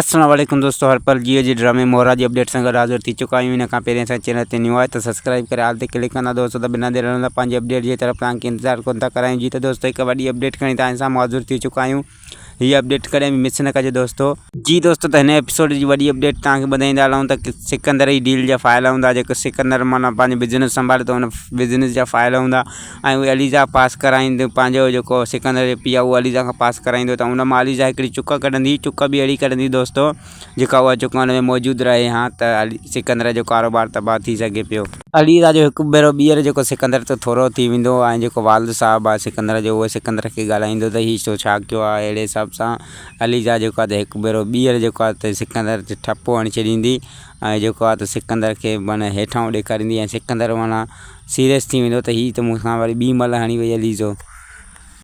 السلام عليڪم دوستو هر پل جيو جي ڊرامي مورا جي اپڊيٽ سان گڏ حاضر ٿي چڪا آهيون ان کان پهرين اسان چينل تي نيو آهي ته سبسڪرائيب ڪري آل تي ڪلڪ ڪندا دوستو ته بنا دير هلندا پنهنجي اپڊيٽ جي طرف توهان کي انتظار ڪون ٿا ڪرايون جي ته دوستو هڪ وڏي اپڊيٽ کڻي توهان سان حاضر ٿي چڪا آهيون هي اپڊيٽ ڪڏهن به مس نه ڪجو دوستو جي دوستو ته هن ايپيسوڊ جي وڏي اپڊيٽ توهان کي ٻڌائيندا هلون ته سڪندر جي ڊيل جا فائل هوندا جيڪو سڪندر معنيٰ پنهنجو بزنس سنڀالي ٿو ان بزنس جا فائل هوندا ۽ اهي عليزا پاس ڪرائينديون پنهنجو جيڪو سڪندر جي پيء اهو عليزا کان پاس ڪرائيندو ته ان مان عليزا هڪڙي چڪ ڪڍندي چڪ به اهڙي ڪڍندي دوستو جيڪا اها چڪ ان ۾ موجود رهي ها ته سڪندر جو ڪاروبار تباهه ٿي سگهي پيو. عليزا جو هڪ ڀيرو ٻيهر جيڪو سڪندر تي ٿورو ٿي ويندو ۽ جيڪو والد صاحب آهي سڪندر جو اهو سڪندر کي ڳالهائيندو ته هي تو ڇا ڪيو آهي اهڙي حساب سان عليزا جيڪو آهي ته هڪ ڀيرو ٻيهر جيڪو آهي ته سڪندر تي ٺپو هڻي ڇڏيندي ۽ جيڪو آهي ته سڪندر کي معنيٰ هيٺان ڏيکاريندي ۽ سڪندر معنيٰ سيريس ٿي ويندو ته هي ته مون سان وري ٻي ملهه هڻي وئي عليزو.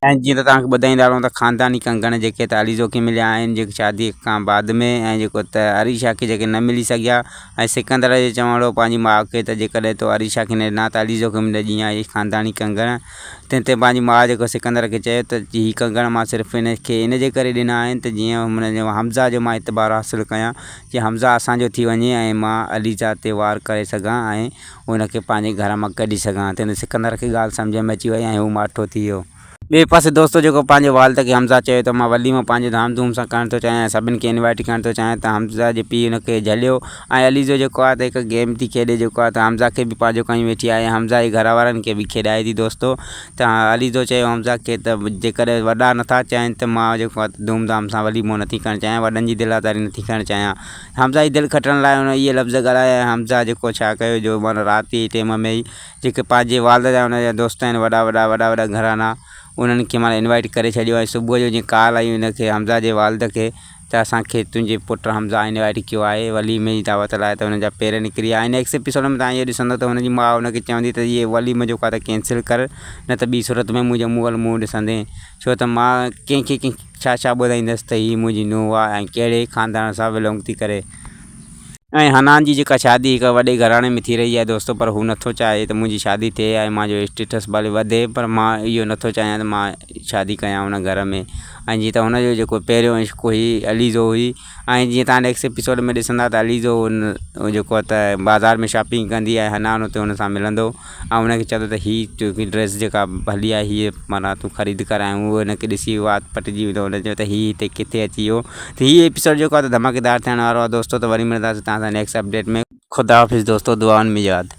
۽ جيئن ته توهان کي ٻڌائيندا رهون ته خانداني ڪنگڻ جيڪي ته عليزو کي مليا آهن جيڪي شادي کان بعد ۾ ۽ جيڪو ته عريشا کي جيڪي نه ملي سگهيا ۽ سڪندر جو چوڻ هو پنهنجي ماء کي ته جيڪڏهن تو عريشا کي نه ڏنا ته عليزو کي ملي ڏينء اهي خانداني ڪنگڻ تنهن تي پنهنجي ماء جيڪو سڪندر کي چيو ته هي ڪنگڻ مان صرف هن کي ان جي ڪري ڏنا آهن ته جيئن هن جو حمزه جو مان اعتبار حاصل ڪيان جيئن حمزه اسان جو ٿي وڃي ۽ مان عليزا تي وار ڪري سگهان ۽ ان کي پنهنجي گهر مان ڪڍي سگهان ته ان سڪندر کي ڳالهه سمجهه ۾ اچي وئي ۽ هو ماٺو ٿي ويو. ٻئي پاسي دوستو جيڪو پنهنجي والد کي حمزه چوي ٿو مان وليمو پنهنجي ڌام ڌوم سان ڪرڻ ٿو چاهيان ۽ سڀني کي انوائيٽ ڪرڻ ٿو چاهيان ته حمزه جي پيء ان کي جهليو ۽ عليزو جيڪو آهي ته هڪ گيم ٿي کيڏي جيڪو آهي ته حمزه کي به پنهنجو ڪيون ويٺي آهي ۽ حمزه جي گهر وارن کي به کيڏائي ٿي دوستو ته عليزو چيو حمزه کي ته جيڪڏهن وڏا نٿا چاهين ته مان جيڪو آهي ته ڌوم ڌام سان وليمو نٿي ڪرڻ چاهيان وڏن جي دل آزاري نٿي ڪرڻ چاهيان حمزه جي دل کٽڻ لاء هن اهي لفظ ڳالهايا ۽ حمزه جيڪو ڇا ڪيو جو معنيٰ رات جي ٽيم ۾ ئي جيڪي پنهنجي والد جا هن جا دوست آهن وڏا وڏا وڏا وڏا گهرانا انهن کي معنيٰ انوائيٽ ڪري ڇڏيو ۽ صبح جو جيئن ڪال آئي هن کي حمزه جي والد کي ته اسان کي تنهنجي پٽ حمزه انوائيٽ ڪيو آهي وليمي جي دعوت لاء ته هن جا پير نڪري ويا ۽ نيڪسٽ ايپيسوڊ ۾ تهان اهو ڏسندو ته هن جي ماء هن کي چوندي ته هي وليمو جيڪو آهي ته ڪينسل ڪر نه ته ٻي صورت ۾ منهنجي منهن ول منهن ڏسندين ڇو ته مان ڪنهن کي ڪنهن ڇا ڇا ٻڌائيندس ته هي منهنجي نونهن آهي ۽ ڪهڙي خاندان سان ولونگ ٿي ڪري. ۽ حنان جي جيڪا شادي هڪ وڏي گهراڻي ۾ ٿي رهي آهي دوستو پر هو نٿو چاهي ته منهنجي شادي ٿئي ۽ مان جو اسٽيٽس ڀلي وڌي پر مان اهو نٿو چاهيان ته مان شادي ڪيان ان گهر ۾ ۽ جيئن ته هن جو جيڪو پهريون عشق هئي عليزو هئي ۽ جيئن توهان نيڪسٽ ايپيسوڊ ۾ ڏسندا ته علي جو ان جيڪو آهي ته بازار ۾ شاپنگ ڪندي آهي حنان اتي ان سان ملندو ۽ ان کي چوندو ته هي تنهنجي ڊريس جيڪا هلي آهي هيء معنيٰ تون خريد ڪر ۽ هو ان کي ڏسي وات پٽجي ويندو ان چوندو ته هي هتي ڪٿي اچي ويو ته هي ايپيسوڊ جيڪو آهي ته ڌماڪيدار ٿيڻ وارو آهي دوستو ته وري ملنداسين توهان سان نيڪسٽ اپڊيٽ ۾ خدا حافظ دوستو دعائن ۾ ياد